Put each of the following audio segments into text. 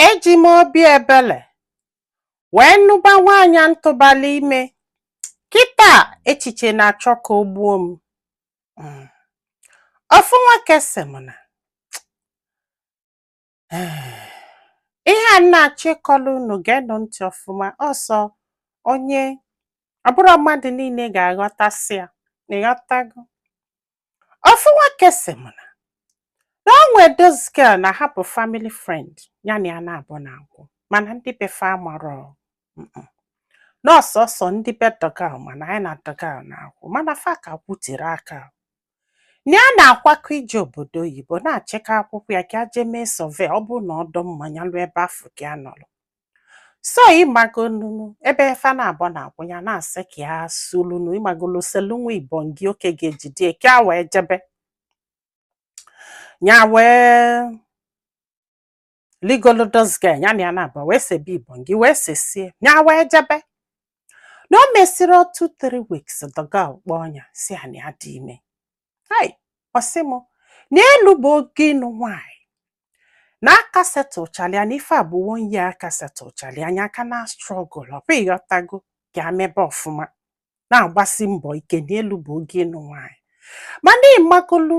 eji m obi ebele wee nụba nwaanyị m tụbalụ ime kịta echiche na-achọ ka o gbuo m hmm. ofu nwoke sị m na ihe a m na-achọ ịkọlụ unu geenụ ntị ọfụma ọsọ onye ọ bụrọ mmadụ niile ga-aghọtasị ya ịghọtago Ofu nwoke sị m na na o nwee this girl na ha bụ family friend ya na ya naabọ na-akwụ mana ndị be fa amarọ mm-mm. na ọ sọsọ ndị be the girl ma na nya na the girl na-akwụ mana fa ka kwutiri aka na ya na-akwakọ ije obodo oyibo na-achịkọ akwụkwọ ya ka ya jee mee survey ọ bụrụ na ọ dị mma nya luo ebe afụ ka ya nọrọ so ịmago nunu ebe fa naabọ na-akwụ ya na-asị ka ya selunu ịmagolu selu nwa ibongi oke ga-ejide ka ya wee jebe ya wee ligolo this girl ya na ya naabọ wee sebe ibongi wee sesie ya wee jebe na e mesịrị two three weeks the girl kpọọ ya sị ya na ya dị ime hai ọ sị m na elubero oge ịnụ nwanyị na a ka settle chalụ ya na ife a bụ one year a ka settle chalụ ya nya ka na-struggle ọ bụ ịghọtago ka ya mebe ọfụma na-agbasi mbọ ike na elubero oge ịnụ nwanyị mana ịmagolu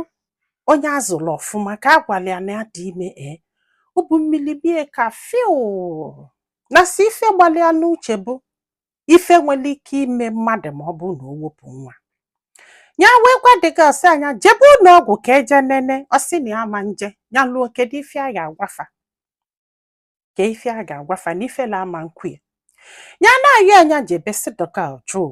onye a zụrụ ọfụma ka a gwara ya na ya dị ime ee ubu mmiri bie ka fiu na si ife gbalụ ya n'uche bụ ife nwere ike ime mmadụ ma ọ bụrụ na o wepụ nwa ya wee gwa the girl ọ sị ya nya jebe ụlọ ọgwụ ka e je nene ọ sị na ya ama eje ya luo kedu ife ya ga-agwa fa ka ife ya ga-agwa fa na ifele ama ekwe ya ya na-ayọ ya nya jebe si the girl jụ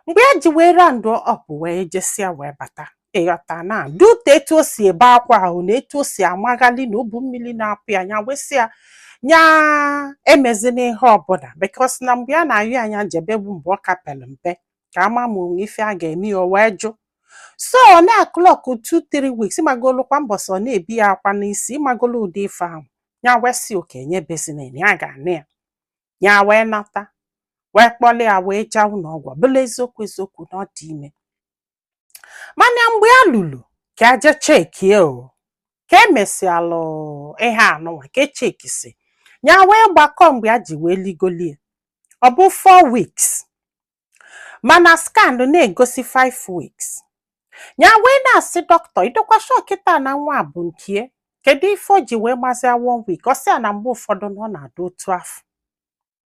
mgbe ya ji wee round up wee jesịa wee bata ịghọta na due to etu o si ebe akwa ahụ na etu o si amaghali na ubu mmiri na-apụ ya nya wee sị ya nya emezina ihe ọbụla because na mgbe ya na-ayọ ya nya jebe bụ mgbe ọ ka pelụ mpe ka a ma ma o nwe ife a ga-eme ya o wee jụ so ọ na-clock 2-3 weeks ịmagolu kwa mbọsị ọ na-ebe ya akwa n'isi ịmagolu ụdị ife ahụ ya wee sị okay nya ebezina ya ga-anụ ya ya wee nata wee kpọlụ ya wee jee ụlọ ọgwụ ọ bụlụ eziokwu eziokwu na ọ dị ime mana mgbe ya lulu ka e je checkie o ka e mesịalụ ihe anụnwa ka e checkisi ya wee gbakọ mgbe ya ji wee ligolo ya ọ bụ 4 weeks mana scan na-egosi 5 weeks ya wee na-asị dọkịta ị dịkwa sure kịta na nwa bụ nke ya kedu ife o ji wee mazia one week ọ sị ya na mgbe ụfọdụ na ọ na-adị otu afụ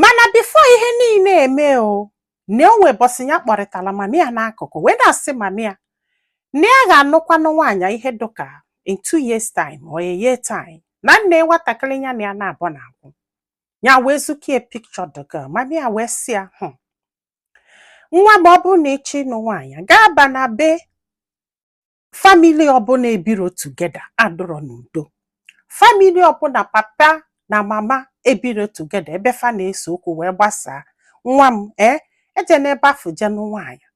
mana before ihe niile eme o na o nwee ụbọsị ya kpọrịtara mami ya n'akụkụ wee na-asị mami ya na ya ga-anụkwanụ nwaanyị ihe dịka in two years time or a year time na nee nwatakịrị ya na ya naabọ na-akwụ ya wee zukie picture the girl mami ya wee sị ya hụ nwa m ọ bụrụ na ị chọọ ịnụ nwaanyị gaa ba na be family ọbụla ebiro together adụrọ n'udo family ọbụla papa na mama ebiro together ebe fa na-ese okwu wee gbasaa nwa m ee ejena ebe afụ je nụ nwaanyị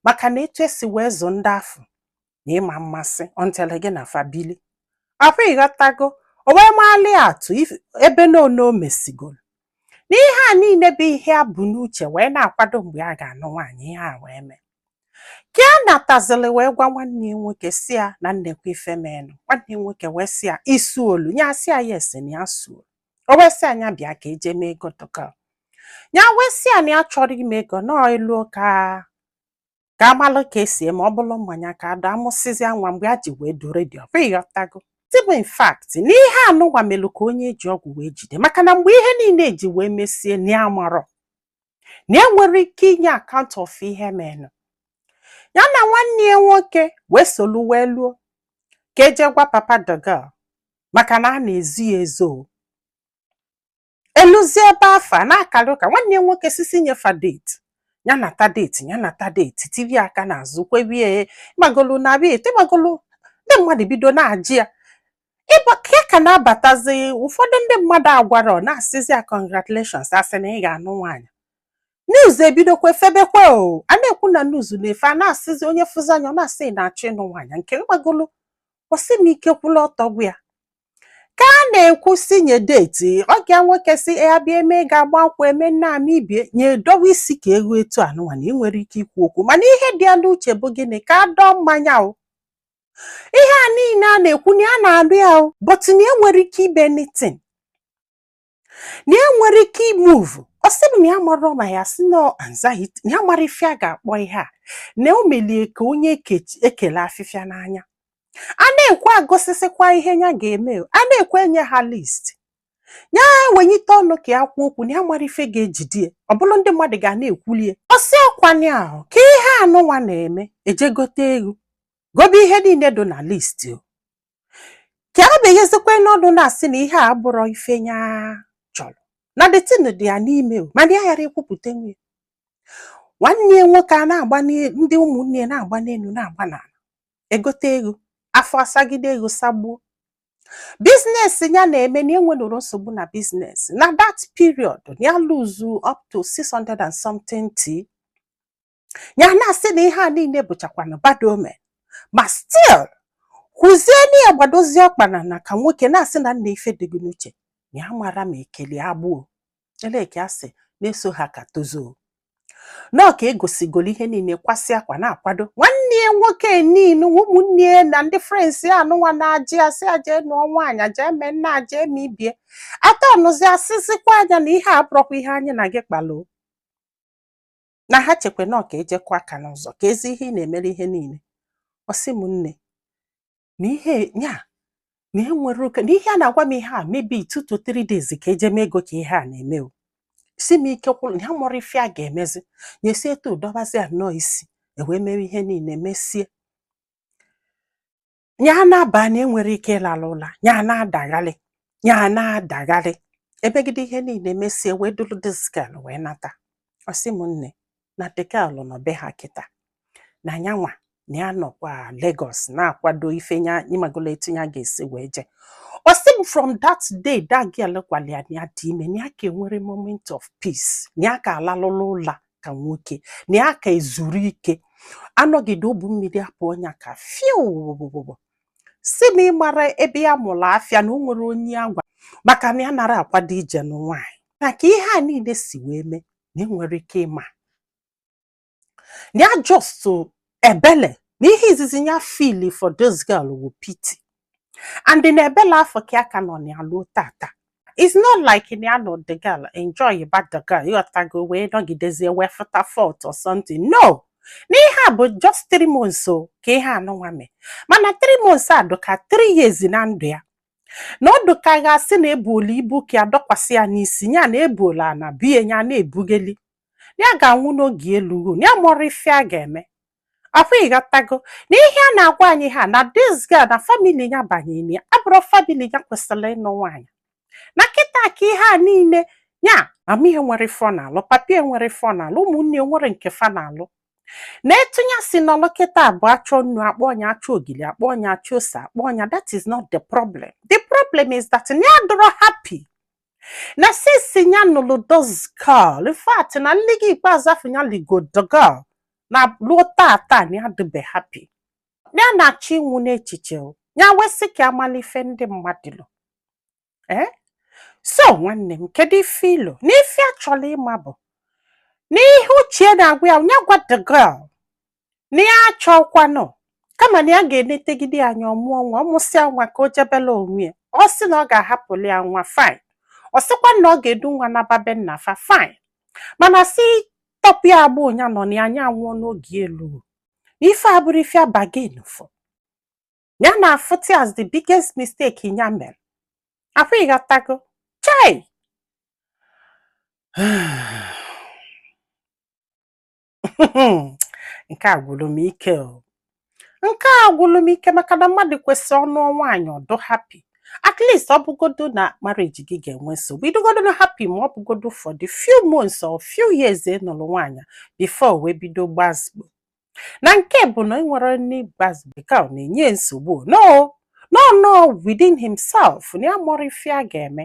maka na etu esi wee zụ ndị afụ na ịma mmasị ọntele gị na family afụ ịghọtago o wee maali atụ if- ebe n'one o mesigoro na ihe a niile bụ ihe a bu n'uche wee na-akwado mgbe a ga-anụ nwaanyị ihe a wee mee ka a natazili wee gwa nwanne ya nwoke sị ya na neekwa ife menụ nwanne ya nwoke wee sị ya i suolu ya sị ya yes na ya suolu o wee sị ya nya bịa ka eje mee ego the girl ya wee sị ya na ya achọrọ ime ego now e luo ka ka amalụ ka esi eme ọ bụrụ mmanya ka a dọọ a mụsịzịa nwa mgbe e ji wee dụ ready ọbụ ịghọtago tibụ in fact na ihe anụnwa melụ ka onye eji ọgwụ wee jide maka na mgbe ihe niile eji wee mesie na ya amarọ na enwere ike inye account of ihe menụ ya na nwanne ya nwoke wee solu wee luo ka eje gwa papa the girl maka na a na-ezo ya ezo eluzie ebe a fa na-akara ụka nwanne ya nwoke sị sị nye fa date ya nata date ya nata date tiri aka n'azụ kwebie ị magolu na abịa eto ị magolu ndị mmadụ bido na-ajụ ya ịba ka ya ka na-abatazi ụfọdụ ndị mmadụ agwara ọ na-asịzi ya congratulations asị na ị ga-anụ nwaanyị news ebidokwa febekwa o a na-ekwu na news na-efe a na-asịzi onye fụzie nya ọ na-asị ị na-achọ ịnụ nwaanyị nke ị magolu ọ sị m ike kwụlụ ọtọ gwụ ya ka a na-ekwu sị nye date ọgọ ya nwoke sị ya bịa eme ga-agba nkwụ eme nna ama ibie nya edowe isi ka eghu etu anụnwa na ya enwerọ ike ikwu okwu mana ihe dị ya n'uche bụ gịnị ka a dọọ mmanya o ihe a niile a na-ekwu na ya na-anụ ya o but na ya enwerọ ike ime anything na ya enwerọ ike i-move ọ sị m na ya amarọ ma ya sị na ọ anxiety na ya amarọ ife a ga-akpọ ihe a na o melie ka onye eke- ekele afịfịa n'anya a na-ekwu agosisịkwa ihe ya ga-eme o. a na-ekwu enye ha list ya wenyite ọnụ ka ya kwuo okwu na ya amarọ ife ga-ejide ya ọ bụrụ ndị mmadụ ga na-ekwuli ya ọ sị ọ kwa nya ahụ ka ihe anụnwa na-eme eje gote eghu gobe ihe niile dị na list o ka a na-enyezikwa n'ọnụ na-asị na ihe a abụrọ ife ya chọrọ na the thing dị ya n'ime o mana ya ghara ekwupụta nwe nwanne ya nwoke a na-agba ndị ụmụnne ya na-agba n'elu na-agba n'ala egote eghu afọ asagide eghu sagbuo business ya na-eme na enwenụrụ nsogbu na business na that period ya lose up to 600 and something tea ya na-asị na ihe a niile bụchakwana bad omen ma still kwuzie na ya gbadozie ọkpa n'ana ka nwoke na-asị na nna ife dị gị n'uche ya mara ma ekele agbụo eleke asị na-eso ha ka tozuo na ọ ka egosigoro ihe niile kwasị akwa na-akwado nwanne ya nwoke niile ụmụnne ya na ndị friends anụnwa na-ajụ asị aje nụọ nwaanyị aje eme nna aje eme ibie atọ ọnụzi asịzikwa anya na ihe a abụrọkwa ihe anyị na gị kpalụ o na ha chekwe na ọ ka eje kụọ aka n'ụzọ keezi ihe ị na-emere ihe niile ọ sị m nne na ihe ya na enwere oke na ihe a na-agwa m ihe a maybe two to three days ka eje eme ego ka ihe a na-eme ọ sị m ike gwụrụ na ya amarọ ife ya ga-emezi nyesi etu dọbazi anọọ isi ewee mewe ihe niile mesie ya n'abanị a enwere ike ịlala ụla ya na-adagharị ya na-adagharị emegide ihe niile mesie wee duru this girl wee nata ọ sị m nne na the girl nọ be ha kịta na nyanwa na ya nọkwa Lagos na-akwado ife nya ịmagolo etu ya ga-esi wee jee ọ sị m from that day that girl gwara ya na ya dị ime na ya aka enwere moment of peace na ya aka alalụla ụla ka nwoke na ya aka ezuru ike anọgide obu mmiri apụọ nya ka fiu sị na ị mara ebe ya mụrụ afịa na o nwere onye agwa maka na ya nara akwado ije nụ nwaanyị na ka ihe a niile si wee mee na enwere ike ịma na ya just ebele na ihe izizi ya feel for this girl wụ pity and na ebele afọ ka ya ka nọ na ya luo tata it's not like na ya nọ the girl enjoy ba the girl ịghọtago wee nọgidezie wee fụta fault or something no na ihe a bụ just three months o ka ihe anụnwa mee mana three months a dụka three years na ndụ ya na ọ dụka a ga-asị na ebuola ibu ka ya dọkwasị ya n'isi ya na ebuola ana bie ya na-ebugeli ya ga-anwụ na oge elugo ya amarọ ife ya ga-eme afọ ịghọtago na ihe a na-agwa anyị ha na this girl na family ya banyere ya abụrọ family ya kwesịrị ịnụ nwaanyị na kịta ka ihe a niile ya mama ya nwere ife ọ na-alụ papa ya nwere ife ọ na-alụ ụmụnne ya nwere nke fa na-alụ na etu ya si nọlụ kịta bụ achọ nnu akpọọ nya achọ ogili akpọọ nya achọ ose akpọọ nya that is not the problem the problem is that na ya adọrọ happy na since ya nụlụ this girl in fact na nligo ikpeazụ afụ ya ligo the girl na luo taata na ya adịbe happy na ya na-achọ ịnwụ n'echiche o. ya wee sị ka a malụ ife ndị mmadụ lo ee so nwanne m kedu ife i lo na ife a chọrọ ịma bụ na ihe uche ya na-agwa ya ya gwa the girl na ya achọọkwanụ kama na ya ga-enetegide ya anya ọ mụọ nwa ọ mụsịa nwa ka o jebelụ onwe ya ọ sị na ọ ga-ahapụlụ ya nwa fine ọ sịkwa na ọ ga-edu nwa naba be nna fa fine mana si tọpụ ya agbụ ụnya nọ na ya anya anwụọ n'oge elu ife a bụrụ ife abagin fụ ya na-afụta as the biggest mistake ya mere ọkwa ị ghọtago chai nke a gwụrụ m ike nke a gwụrụ m ike maka na mmadụ kwesịrị ọ nụọ nwaanyị ọ dụ happy at least ọ bụgodo na marriage gị ga-enwe nsogbu ị dụgodo na happy ma ọ bụgodo for the few months or few years ị nụrụ nwaanyị before wee bido gbazigbo na nke bụ na ị nwere nne gbazigbo ka ọ na-enye nsogbu no no no within himself na ya amarọ ife ya ga-eme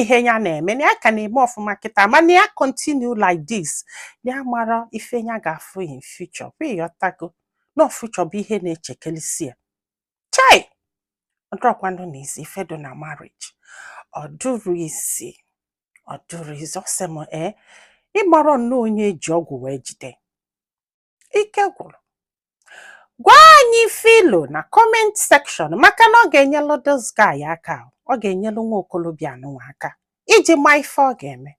ihe ya na-eme na ya ka na-eme ọfụma kịta mana ya continue like this ya amarọ ife ya ga-afụ in future kwa ị ghọtago na future bụ ihe na-echekelisi ya chai ọ dụrọkwanụ na easy ife dị na marriage ọ dụrọ easy ọ dụrọ easy ọ sị m ee ị mara nnọọ onye e ji ọgwụ wee jide ike gwụrụ gwa anyị ife i lo na comment section maka na ọ ga-enyelụ this guy aka ọ ga-enyelụ nwa okolobịa anụnwa aka iji ma ife ọ ga-eme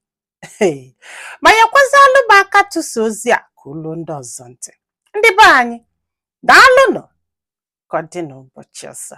ma nyekwazịalụ m aka tụsa ozi a ka o luo ndị ọzọ ntị ndị be anyị daalụnụ ka ọ dị n'ụbọchị ọzọ